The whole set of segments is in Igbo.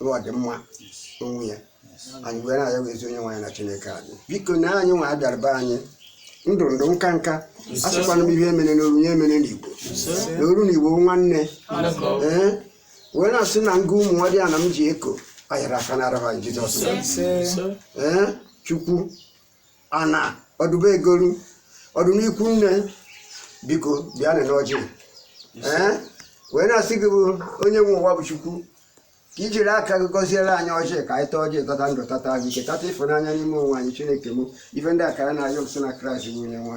na ọdịmma onwe ya anyị wee na-ayọzi onye nwe anyị na chineke anyị biko na anyị nwa bịara be anyị ndụ ndụ nka nka asịkwana m ihe e mere n'oru ya e mere n'igbo na oru na igbo nwanne ee wee na-asị na nga ụmụ nwadiana m ji eko ayara aka na arahụ anyị jizọs ee chukwu ana ọdụbe egolu ọdụ n'ikwu nne biko bịanị n'ọjị ee wee na-asị gị bụ onye nwe ụwa bụ chukwu ka i jiri aka gị gọziere anyị ọjị ka anyị taa ọjị tata ndụ tata ahụ ike tata ịfụnanya n'ime onwe anyị chineke m ife ndị a ka anyị na-ayọ si na kraịst bụ onye nwe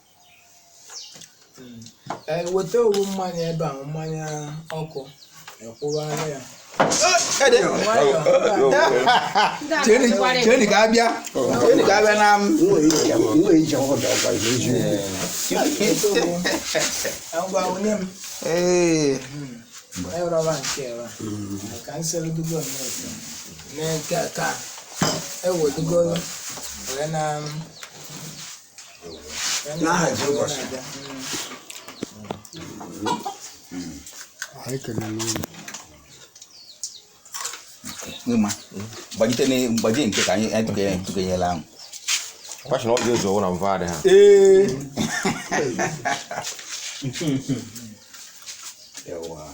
ee weta owu mmanya ebe a mmanya ọkụ ekwụgharị ya cheni ka abịa cheni ka abịa na m ngwa onye m ee ewurọba nke ewa ka m seludugo nneke mee nke a ka ewedugoro wee na n'aha Jizọs anyị kelere unu ịma gbajite na mgbaji nke ka anyị atụkenye ntụkenyela ahụ Kwasị na ọ dị ụzọ ọwụ na mva adị ha. ee Ewa.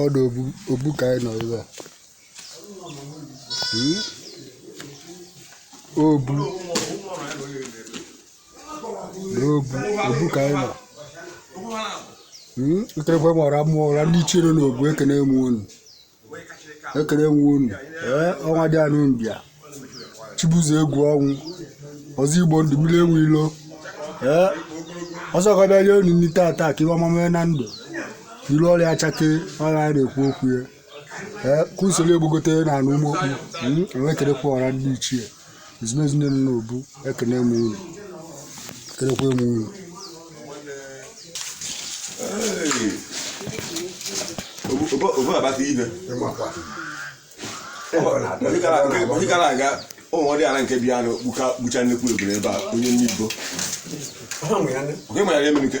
ọdụ obu ka anyị nọ ebe a hmm? obu n'obu obu ka anyị nọ nkerekwe hmm? mara mma ọra ndị ichie nọ n'obu ekene m unu ekele nwe unu ee ọnwa dị anụ mbịa chibuzo egwu ọnwụ ọzọ igbo ndụ mmiri enwe ilo ee ọzọ ka bịa rie unu nri tata ka iwe ọma mee na ndụ ilu ọrịa achake ọrịa a na-ekwu okwu ya ee ka usoro egbogote na anụ ụmụ okpu enwekerekwa ọra ndị ichie ezumezu niile nọ n'obu ekene m unu ekenekwa m unu obu abata ibe onye gara aga ụmụ diala nke bịa na gbucha nnekwu ebule ebe a onye nne ibo oke nwere ya emenike